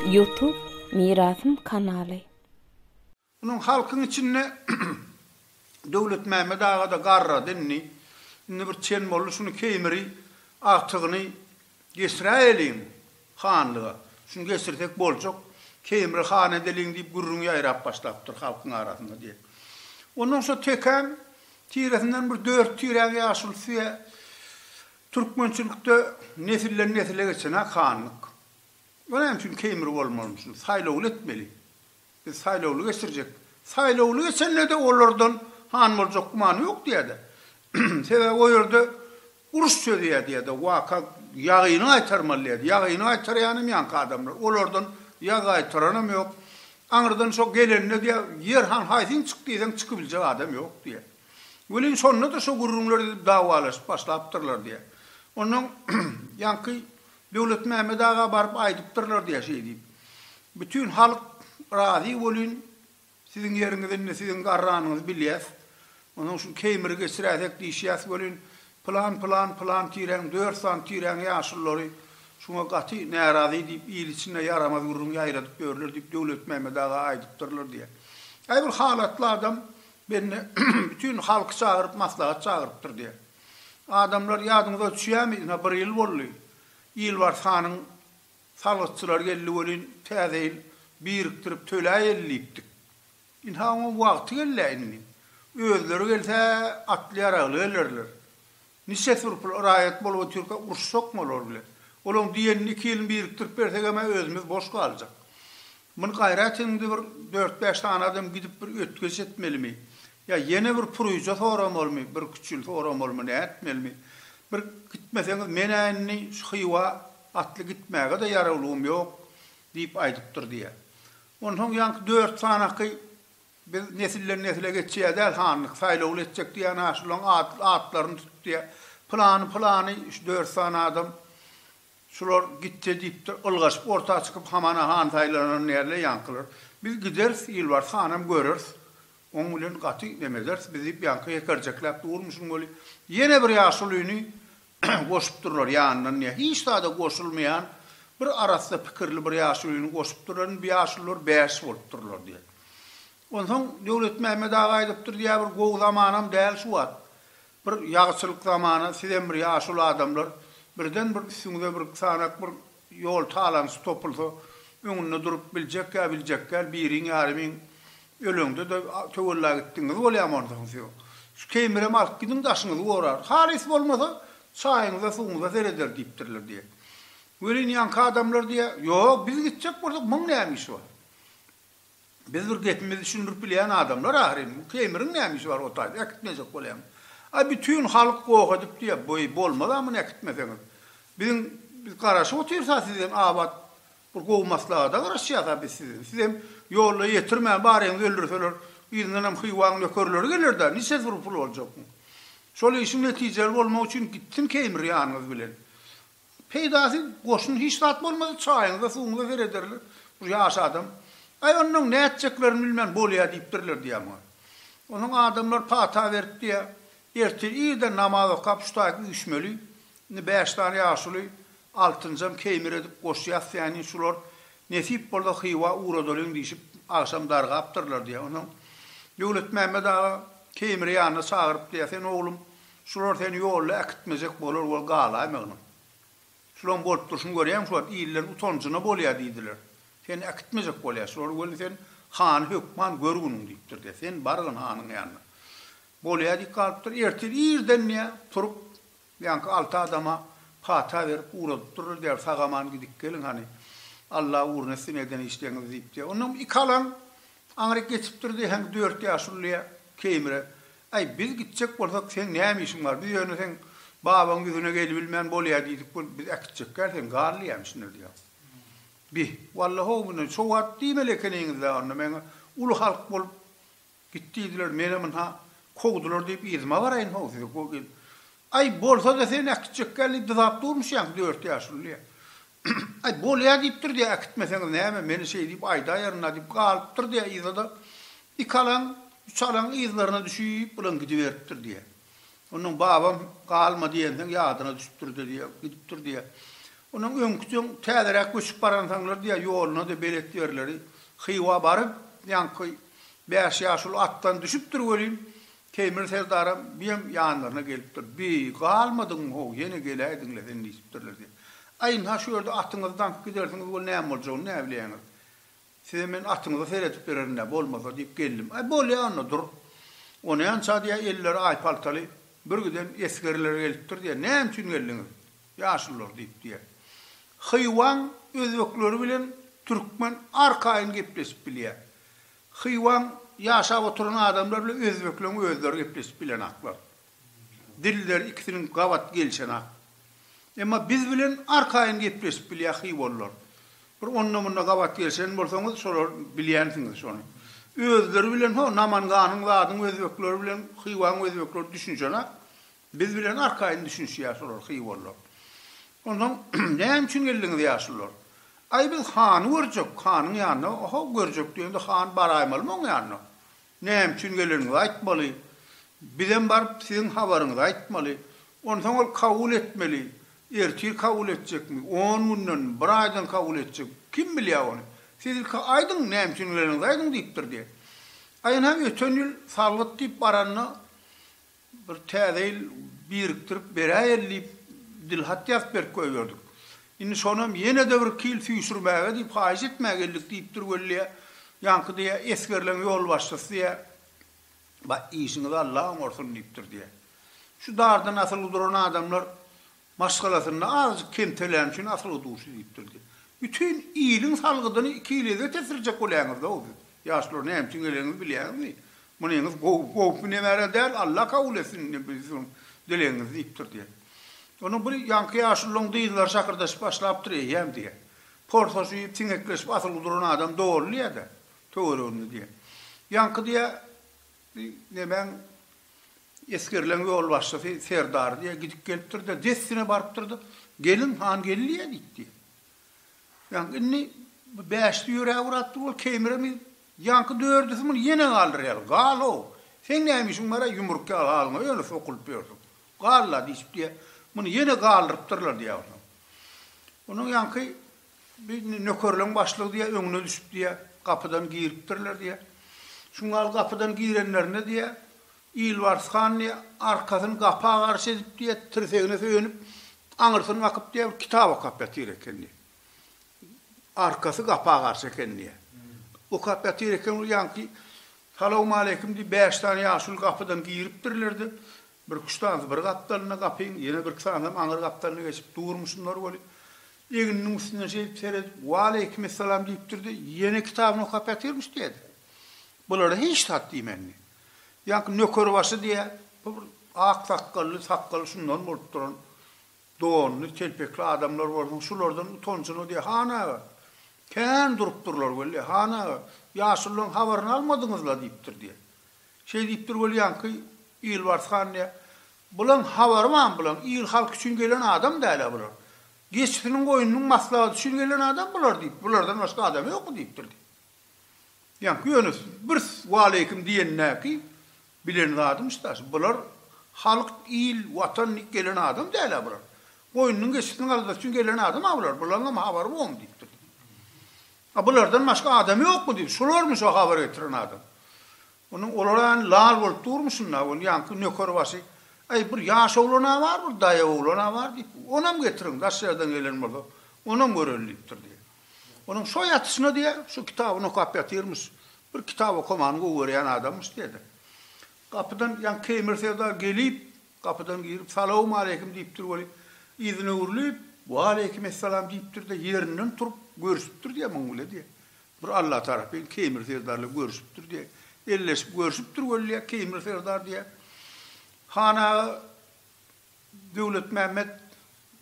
Youtube Mirasym kanaly. Unuň halkyň içinde Döwletmämmet aga-da garrady indi. Indi bir çen boldy, şuny keýmiri, agtygyny geçiräýeliň. Hanlyga. Şuny geçirsek boljak. Keýimre han edeliň diýip gürrüň ýaýrap başlapdyr halkyň arasynda diýip. Ondan şo tekäň tiresinden bir dört tiräň ýaşulysy ýa türkmençilikde nesilden nesile geçen-hä hanlyk. Ol näme üçin Keýimre bolmalymyş? Saýlawly etmeli. Biz saýlawly geçirjek. Saýlawly geçende-de olardan han boljak gümany ýok diýýär-de. Sebäbi o ýerde uruş çözýär diýýär-de. Waka ýagyny gaýtarmaly diýýär-de. Ýagyny gaýtarýanam ýaňky adamlar. Olardan ýag gaýtaranam ýok. Aňyrdan şo gelende diýýär, Ýer han haýsyň çyk diýseň çykybiljek adam ýok diýýär. Welin şonda-da şo gürrüňler edip dawalaşyp başlapdyrlar diýýär. Ondan ýaňky Döwletmämmet aga baryp aýdypdyrlar diýýär şeý diýip. Bütin halk razy bolyn, siziň ýeriňiz indi siziň garranyňyzy bilýäs. Onsoň şu Keýmiri geçiräýsek diýişýäs welin, pylan, pylan, pylan tireň, dört sany tireň ýaşululary şuňa gaty närazy diýip, il içinde ýaramaz gürrüň ýaýradyp ýörler diýip, Döwletmämmet aga aýdypdyrlar diýýär. Aý bir halatly adam bende bütin halky çagyryp maslahat çagyrypdyr diýýär. Adamlar, ýadyňyza düşýärmi, ine, bir ýyl boldy. Ilbars hanyň salgytçylary geldi welin, täze ýyl birikdirip töläýeli diýipdik. Ynha, oňa wagty gel-ä indi. Özleri gelse, atly-ýaragly gelerler. Niçe surpul raýat bolup otyrka uruşjakmy olar bilen? Olaň diýenini iki ýylyny birikdirip bersegem-ä özümiz boş galjak. Muny gaýrat ediňde bir dört-bäş sany adam gidip bir ötgeç etmelimi? Ýa ýene bir puryja soramalymy, bir küçül soramalymy, nätmelimi? Bir gitmeseňiz men-ä indi şu Hywa atly gitmäge-de ýarawlygym ýok, diýip aýdypdyr diýýär. Onsoň ýaňky dört sanaky biz nesilden-nesle geçýä däl hanlyk, saýlawly etjek diýýän-ä şularyň atlaryny tut diýýä. Pylany-pylany şu dört sany adam Şular gitse diýipdir, ylgaşyp orta çykyp hamana han saýlanan näle ýaňkylar. Biz gideris, Ýylbarys hanam göreris. Oň bilen gaty neme ederis biz diýip ýaňky hekerjekläp durmuşyn weli, ýene bir ýaşulyny goşupdyrlar ýanyndan ne hiç zada goşulmaýan bir arassa pikirli bir ýaşulyny goşupdyrlar indi bu ýaşulylar bäş bolupdyrlar diýen. Onsoň Döwletmämmet aga aýdypdyr diýýär bir gowy zamanam däl şu wagt. Bir ýagşylyk zamana sizem bir ýaşuly adamlar birden bir üstüňize bir sanak bir ýol talaňçy topulsa öňünde durup biljek ýa biljek däl biriň ýarymyň öleňde de töwella gitdiňiz bolýamy onda hüms ýok. Şu keýmirem alyp gidiň daşyňyzy gorarys. Halys bolmasa çaýyňyza suwuňyza sereder diýipdirler diýýär. Welin ýaňky adamlar diýýär, Ýok biz gitjek bolsak müň näme işi bar. Biz bir gepimizi düşündirip bilýän adamlar ahyryn. Bu Keýmiriň näme işi bar o taýda, äkitmejek bolýamy? A bütin halk goh edip diýýär. Beý, bolmaz-a muny äkitmeseňiz. Biziň, biz garaşyp otyrys-a sizden abat bir gowy maslahata garaşýas-a biz sizden. Sizem ýolda ýetirmän baryňyzy öldürseler, yzyndanam Hywaň nökerleri geler-dä, niçe zor pul boljak bu? Şol işiň netijeli bolmagy üçin gitsin Keýmir ýanyňyz bilen. Peýdasy goşun hiç zat bolmady, çaýyňyza suwuňyza serederler. Bir ýaş adam, Aý ondan nätjeklerini bilmän bolýa diýipdirler diýýär muňa. Onsoň adamlar pata berip diýýär, Ertir irden namaz okap şu taýy üýşmeli. Indi bäş sany ýaşuly, altynjam keýmir edip goşy ýasýaýyn, şular nesip bolsa Hywa ugradalyň diýşip, agşam dargapdyrlar diýýär. Onsoň Döwletmämmet aga keýmiri ýanyna çagyryp diýýär, Sen oglum, Şular seni ýolda äkitmejek bolar bol galaýma ynyn. Şulaň bolup durşuny görýäňmi şu wagt illeriň utanjyna bolýa diýdiler. Seni äkitmejek bolýa şular weli sen hany hökman gör günüň diýipdir diýýä. Sen bargyn hanyň ýanyna. Bolýa diýip galypdyr. Ertir irden diýýä turup ýaňky alty adama pata berip ugradypdyrlar diýýär sag-aman gidip geliň hany. Alla ugruna etsin eden işleriňizi diýip diýýä. Ondan iki alan aňryk geçipdir diýýä hem dört ýaşuly diýýä Keýmire Aý, biz gitjek bolsak, seň näme işiň bar? Biz ýöne seň babaň ýüzüne gelibilmän bolýa diýdik, bu biz äkitjek däl, sen gal diýýämi şunda diýýär. Bi, walla-how, mundan şo wagt diýmeli ekeniňiz-dä onda meňe uly halk bolup git diýdiler, menem ynha, kowdular diýip yzyma baraýyn-how, sizi Aý, bolsa-da sen äkitjek geldi dyzap durmuşýaň dört ýaşulyny. Aý, bolýa diýipdir-de, äkitmeseňiz näme, meni şeý diýip aýdaýaryn-a diýip galypdyr-da, yza-da iki alaň, üç alaň yzlaryna düşüp bilen gidiberipdir diýýä. Onnoň babam galma diýensoň ýadyna düşüpdir-de diýýä, gidipdir diýýä. Onnoň öňkijeň täzeräk göçüp baransoňlar diýýä, ýoluna-da belet ýerleri Hywa baryp, ýaňky bäş ýaşuly atdan düşüpdir welin, Teýmir serdaram, biem ýanlaryna gelipdir. Bi, galmadygyň-how, ýene geläýdiň-le sen diýsipdirler diýip. Aý, ynha şu ýerde atyňyzy daňyp gidersiňiz weli näme boljagyny näbileýäňiz. Size men atyňyzy seredip bererin-dä, bolmasa diýip geldim. Aý, bolýa onda, dur. O näme-ça diýýä, elleri aýpaltaly birgiden esgerler gelipdir diýýä. Näme üçin geldiňiz, ýaşulular? diýip diýýä. Hywaň özbekleri bilen türkmen arkaýyn gepleşip bilýä. Hywaň ýaşap oturan adamlar bilen özbekleň özleri gepleşip bilenaklar. Dilleri ikisiniň gabat gelişenak. Emma biz bilen arkaýyn gepleşip bilýä hywalylar. Bir onda-munda gabat gelişen bolsaňyz şolar bilýänsiňiz şony. Özleri bilen ho Namanganyň zadyň özbekleri bilen Hywaň özbekleri düşünişenak. Biz bilen arkaýyn düşünişýär şolar hywarlar. Onsoň näme üçin geldiňiz ýaşulylar? Aý biz hany görjek, hanyň ýanyna. Oho, görjek diýende han baraýmalymy oň ýanyna? Näme üçin geleniňizi aýtmaly. Bizem baryp siziň habaryňyzy aýtmaly. Onsoň ol kabul etmeli. Ertir kabul etjekmi, on gündenmi, bir aýdan kabul etjek. Kim bilýär ony. Siz ilki aýdyň, näme üçin geleniňizi aýdyň diýipdir diýen. Aýynham öten ýyl salgyt diýip baranda Bir täze ýyl birikdirip beräýeli diýip, dilhat ýazyp berip goýberdik. Indi şonam ýene-de bir kil süýşürmäge diýip, haýyş etmä geldik diýipdir weli. Ýaňky diýe, esgerleň ýolbaşçysy diýe, Ba, işiňizi Alla oňarsyn diýipdir diýe. Şu dardan asylgy duran adamlar Maşgalasynda azjyk kemteläni üçin asyl-a duşy diýipdirdi. Bütin iliň salgydyny iki ilege tesdirjek bolýaňyz-ow siz, ýaşlar, näme üçin gelenňizi bilýäňizmi? Munyňyz gowy, gowpy nebara däl, Alla kabul etsin indi biziň dilegiňizi diýipdirdi. Onuň bir ýaňky ýaşulylaň dyzlary şakyrdaşyp başlapdyr, eýýäm diýýär. Porsaşyp, siňekleşip asyl duran adam doly diýýär-de, töwereginde diýýär. Ýaňky diýýär, nemäň Esgerleň ýolbaşçysy serdar diýýär, gidip gelipdir-de, dessine barypdyr-da, Gelin, han geldiýä diýipdi. Ýaňky indi bu bäşisi ýöräp urapdyr, ol keýmiremedi. Ýaňky dördüsi muny ýene galdyrýarlar, Gal-ow, seň näme işiň bar-aý ýumruk ýaly alyňa ýöne sokulyp ýörsüň. Gal-la diýşipdi-de, muny ýene galdyrypdyrlar diýýär onsoň. Onuň ýaňky Bir nökerleň başlygy diýýär, öňüne düşüp diýýär, gapydan giripdirler diýýär. Şuň gal gapydan girenlerinde diýýär, Ilbars han diýýär, arkasyny gapa garşy edip diýýär, tirsegine söýenip, aňyrsyny kakyp diýýär, bir kitap okap ýatyr eken diýýär. Arkasy gapa garşy eken diýýär. Okap ýatyr eken, ol ýaňky Salawmaleýkim diýip, bäş sany ýaşuly gapydan giripdirler-de, Birki üç sanysy bir gapdalynda gapyň, ýene birki sanysam aňyr gapdalyna geçip durmuşymlar welin, egniniň üstünden şeýdip seredip, Waleýkim essalam diýipdir-de, ýene kitabyny okap ýatyrmyş diýýä-de. Bulara hiç zat diýmänmi? Ýaňky nökerbaşy diýýä, bu bir ak sakgally, sakgaly şundan bolup duran, donly, telpekli adamlar bolsaň, şulardan utanjyny diýýä, Han aga, kän durupdyrlar weli, Han aga, ýaşulularyň habaryny almadyňyz-la diýipdir diýýä. Şeý diýipdir welýanky, Ýolbars han diýýä, Bulaň habary bar, bulaň il-halk üçin gelen adam däl-ä bular. Geçisiniň goýnunyň maslahaty üçin gelen adam bular diýip, bulardan başga adam ýokmy diýipdir diýýä. Ýaňky ýöne bir waleýkim diýenindäki bilen zadymyş daş, bular halk, il, watan diýip gelen adam däl-ä bular. Goýnunyň geçisiniň aladaty üçin gelen adam-a bular, bulaňam habary bormy diýipdir diýýä. A bulardan başga adam ýokmy diýdi. Şularmy şo habar getiren adam? Onuň olara ýany lal bolup durmy şunda? Ol ýaňky nökerbaşy, Äý, bir ýaş oglan-a bar, bir daýaw oglan-a bar diýip, onam getiriň, daş ýerden gelen bolsa, onam göreýin diýipdir diýýär. Onuň şo ýatyşyna diýýär, şu kitabyny okap ýatyrmyş. Bir kitap okamany gowy görýän adammyş diýýär-de. Gapydan ýaňky Keýmir serdar gelip, Gapydan girip, Salawmaleýkim diýipdir weli, yzyna öwrülip, Waleýkim essalam diýipdir-de, ýerinden turup, görşüpdir diýä muň bile diýä. Bir Alla tarapyn Keýmir serdarla görşüpdir diýä. Elleşip görşüpdir weli diýä, Keýmir serdar diýä. Han aga Döwletmämmet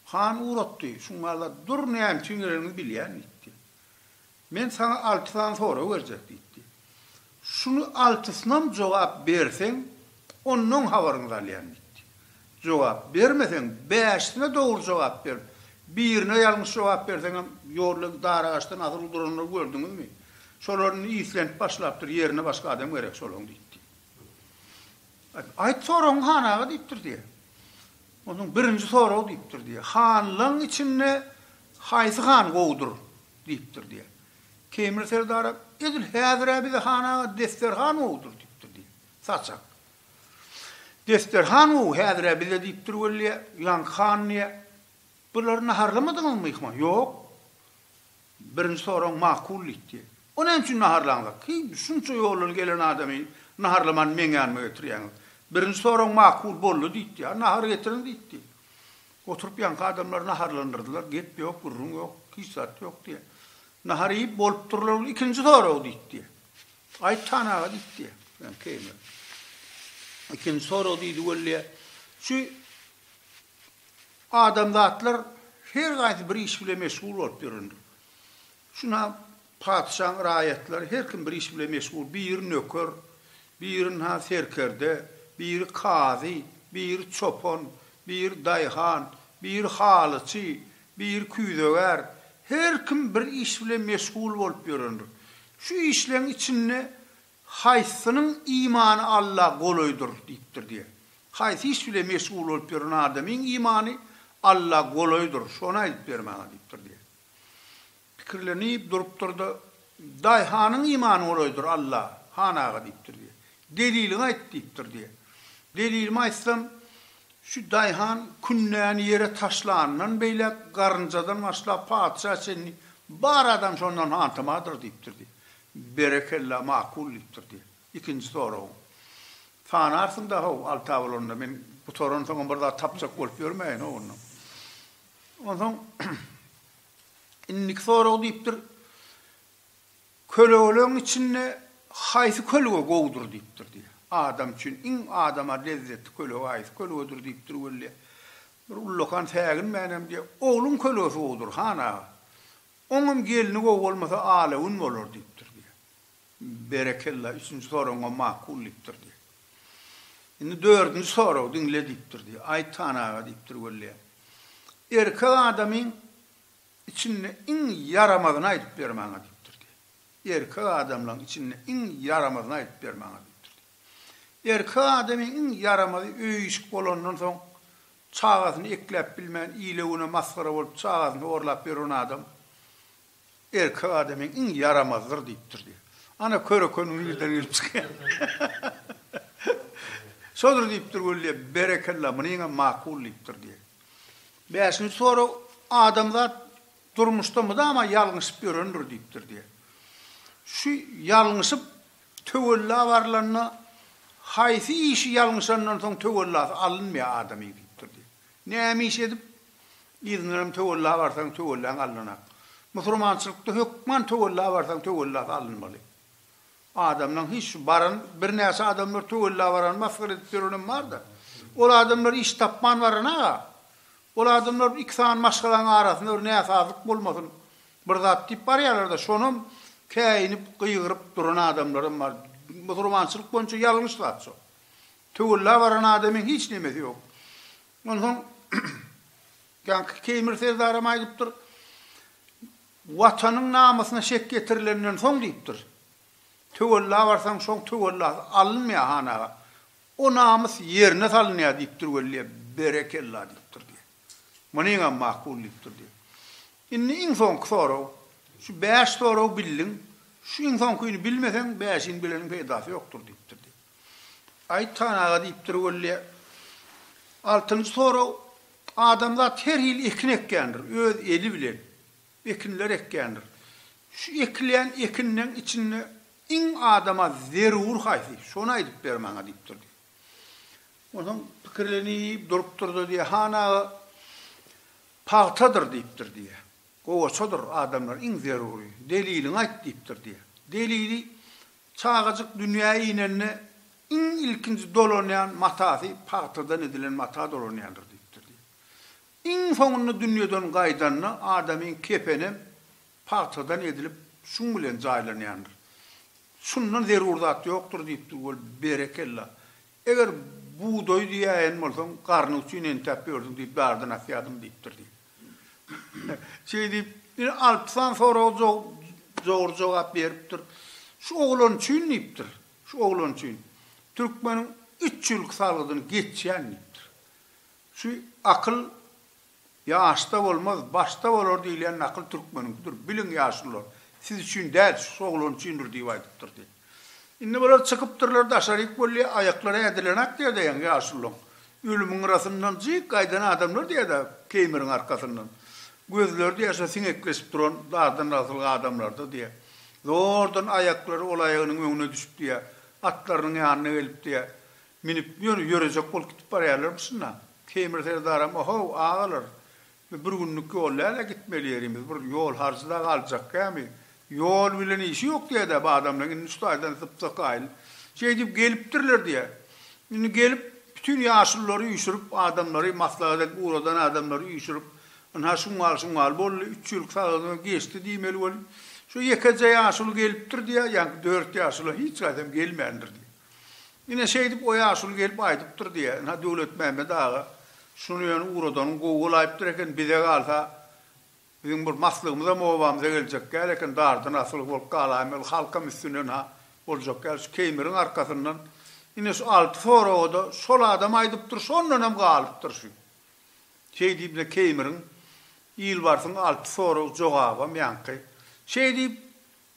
han ugratdy. Şuňala dur, näme üçin geleniňi bilýän diýipdi. Men saňa alty sany sorag berjek diýipdi. Şuny altysynam jogap berseň, onnoň habaryňyzy alýan diýipdi. Jogap bermeseň, bäşisine dogry jogap ber, birine ýalňyş jogap berseňem ýolla dara-gaşdan asyl duranlary gördüňizmi? Şolar indi islenip başlapdyr, ýerine başga adam gerek şolaň diýipdi. Aýt soragyňy han aga diýipdir diýe. Onsoň birinji sorag diýipdir diýe, hanlaň içinde haýsy han gowudyr? diýipdir diýýär. Teýmir serdara, Edil häzir-ä bize han aga desterhan gowudyr diýipdir diýýär. Saçak, Desterhan gowy häzir-ä bize diýipdir weli, ýaňky han diýýär. Bulary naharlamadyňyzmy myhman? Ýok. Birinji sorag makul diýipdir. O näme üçin naharlaňzak? Heý, şunça ýoldan gelen adamy naharlaman meň ýanyma getirýäňiz. Birinji sorag makul boldy diýipdir. Nahar getiriň diýipdir. Oturyp ýanky adamlary naharlandyrdylar, gep ýok, gürrüň ýok, hiç zat ýok diýýär. Nahar iýip bolupdyrlar ol ikinji sorag diýdi diýýär. Aýt han aga diýdi diýýär. Ýa keýmir. Ikinji sorag diýdi weli diýýär. Şu adamzatlar her gaýsy bir iş bilen meşgul bolup ýörendir. Şuna patyşaň raýatlary her kim bir iş bilen meşgul, biri nöker, biri ynha serkerde, biri kazy, biri çopan, biri daýhan, biri halyçy, biri küýzegär, her kim bir iş bilen meşgul bolup ýörendir. Şu işleň içinde haýsynyň imany Alla golaýdyr diýipdir diýe. Haýsy iş bilen meşgul bolup ýören adamyň imany Alla golaýdyr, şony aýdyp ber maňa diýipdir diýe. Pikirlenip durupdyr-da, Daýhanyň imany golaýdyr, Alla, han aga, diýipdir, diýýär. Deliliňi aýt, diýipdir, diýýär. Delilimi aýtsam, şu daýhan kündäni ýere taşlanyndan beýläk, garynjadan başlap, patyşa çenli bar adam şondan hantamadyr, diýipdir, diýýär. Berekella, makul, diýipdir, diýýär. Ikinji soragyň. Sanarsyň-da, how, alta bolanda, men gutaransoňam bir zat tapjak bolup ýörmäýin, ho, onda. Onsoň indiki sorag diýipdir, Kölegeleň içinde haýsy kölge gowudyr diýipdir diýýär. Adam üçin iň adama lezzetli kölge haýsy kölgedir diýipdir weli. Bir ullakan säginmänem diýýär, Ogluň kölgesi gowudyr, han aga. Oňam gelni gowy bolmasa ala gün bolar diýipdir diýýär. Berekella, üçünji soragyňam makul diýipdir diý. Indi dördünji soragy diňle diýipdir diý. Aýtan aga diýipdir welleýem. Erkek adamyň içinde iň ýaramazyny aýdyp ber maňa diýipdir diý. Erkek adamlaň içinde iň ýaramazyny aýdyp ber maňa diýipdir diý. Erkek adamyň iň ýaramazy öýüşik bolandan soň çagasyny ekläp bilmän ile güne masgara bolup çagasyny horlap ýören adam Erkek adamyň iň ýaramazdyr diýipdir diýýär. Ana köre-köniň nirden gelip çykýany. Şodur diýipdir Gullyýe, Berekella, munyňam makul diýipdir diýýär. Bäşinji sorag, Adamzat durmuşda mydama ýalňyşyp ýörendir diýipdir diýýär. Şu ýalňyşyp töwella barlanda haýsy işi ýalňyşandan soň töwellasy alynmaýar adamyň diýipdir diýýär. Näme iş edip, yzyňdanam töwella barsaň, töwelläň alnanak. Musurmançylykda hökman töwella barsaň, töwellasy alynmaly. Adamlaň hiç şu baran, birnäçe adamlar töwella baran, masgara edip ýörenem bar-da. Ol adamlar iş tapman baran-a. Ol adamlar iki sany maşgalaň arasynda bir näsazlyk bolmasyn, bir zat diýip barýarlar-da, şonam käýinip, gygyryp duran adamlaram bar. Musurmançylyk boýunça ýalňyş zat şo. Töwella baran adamyň hiç nemesi ýok. Onsoň Ýaňky Keýmir serdaram aýdypdyr, Watanyň namysyna şek getirilenden soň diýipdir, töwella barsaň şoň töwellasy alynmaýar han aga. O namys ýerine salynýar diýipdir weli, berekella diýipdir diýýär. Munyňam makul diýipdir diýýär. Indi iň soňky sorag. Şu bäş soragy bildiň, şu iň soňkyny bilmeseň bäşini bileniň peýdasy ýokdur diýipdir diýýär. Aýypjan aga diýipdir weli. Altynjy sorag, Adamzat her hili ekin ekýändir, öz eli bilen ekinler ekýändir. Şu ekilýän ekinleň içinde iň adama zerur haýsy? Şony aýdyp ber maňa diýipdir diýip. Onsoň pikirlenip durupdyr-da diýýär, Han aga, pagtadyr diýipdir diýýär. Gowaçadyr adamlara iň zerury. Deliliňi aýt diýipdir diýýär. Delili, Çagajyk dünýä inende iň ilkinji dolanýan matasy pagtadan edilen mata dolanýandyr diýipdir diýip. Iň soňunda dünýeden gaýdanda adamyň kepenem pagtadan edilip şuň bilen jaýlanýandyr. Şundan zerur zat ýokdur diýipdir wol berekella. Eger bugdaýy diýäýen bolsaň garny üçin entäp ýörsüň diýip dardy nasýadym diýipdir diýip. Şeý diýip, ine, Alpsan soraga dogry jogap beripdir. Şu oglan üçin diýipdir, şu oglan üçin türkmeniň üç ýyllyk salgydyny geçýän diýipdir. Şu akyl ýaşda bolmaz, başda bolar diýilýän nakyl türkmeniňkidir. Biliň ýaşulylar, siz üçin däl, şu oglan üçindir diýip aýdypdyr diýip. Indi bular çykypdyrlar daşaryk weli aýaklary ädilenak diýerdi ýaňy ýaşullaň ölümiň gyrasyndan jyk gaýdan adamlar diýerdi keýmiriň arkasyndan gözleri diýer şo siňekleşip duran dardan asyl adamlardyr diýer zordan aýaklary ol aýagynyň öňüne düşüp diýer atlarynyň ýanyna gelip diýer minip ýörejek bolup gidip barýarlarmyşynda keýmir serdaram ohow agalar Biz bir günlük ýol däl-ä gitmeli ýerimiz, bir ýol harjy-da galjak kämi? Ýol bilen işi ýok diýýä-dä bu adamlaryň, indi şu taýdan sypsykaýly şeý diýip gelipdirler diýýä. Indi gelip, bütin ýaşululary üýşürip, adamlary maslahat edip ugradan adamlary üýşürip, ynha şuňňal-şuňňal boldy, üç ýyllyk sagdynlygy geçdi diýmeli bolup, şu ýekeje ýaşuly gelipdir diýýä, ýaňky dört ýaşula hiç gaýsam gelmändir diýýä. Ine, şeýdip o ýaşuly gelip aýdypdyr diýýä. Ynha, Döwletmämmet aga şuny ýöne ugradanyň gowy bolaýypdyr eken, bize galsa, biziň bir maslygymyzam obamyza geljek däl eken, dardan asylgy bolup galaýmaly, halkam üstüne ynha, boljak däl, şu Keýmiriň arkasyndan, ine, şu alty soraga-da şol adam aýdypdyr, şondanam galypdyr şu. Şeý diýip, ine, Keýmiriň, Ilbarsyň alty sorag, jogabam ýaňky. Şeý diýip,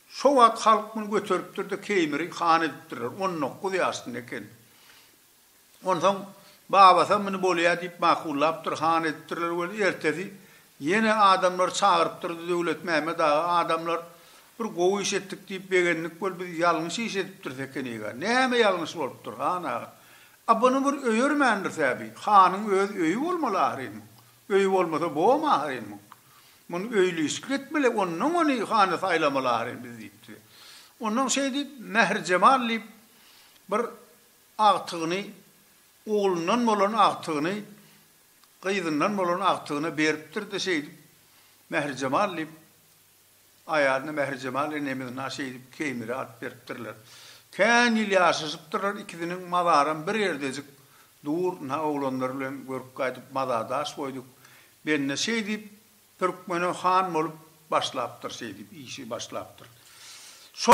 Şo wagt halk muny göteripdir-de Keýmiri han edipdirler. On dokuz ýaşynda eken. Onsoň babasam muny bolýa diýip makullapdyr, han edipdirler weli, ertesi ýene adamlary çagyrypdyrdy Döwletmämmet aga, adamlar bir gowy iş etdik diýip begendik weli, biz ýalňyş iş edipdiris ekeniga. Näme ýalňyş bolupdyr, han aga? A buny bir öýermändiris-ä bi. Hanyň öz öýi bolmaly ahyryn muň. Öýi bolmasa bom ahyryn muň. Muny öýli-işlik etmeli, onnoň ony hana saýlamaly ahyryn biz diýipdi. Onnoň şeý diýip, Mähirjemal diýip bir agtygyny, oglundan bolan agtygyny gyzyndan bolan agtygyna beripdir-de şeýdip, Mähirjemal diýip Aýalyna Mährijemal enemiz na şeýdip Keýmire at beripdirler. Kän ýyl ýaşaşypdyrlar ikisiniň mazaram bir ýerdejik dur na oglanlar bilen görüp gaýdyp mazadaş boýduk. Bende şeýdip Türkmene han bolup başlapdyr şeýdip işi başlapdyr. Şo.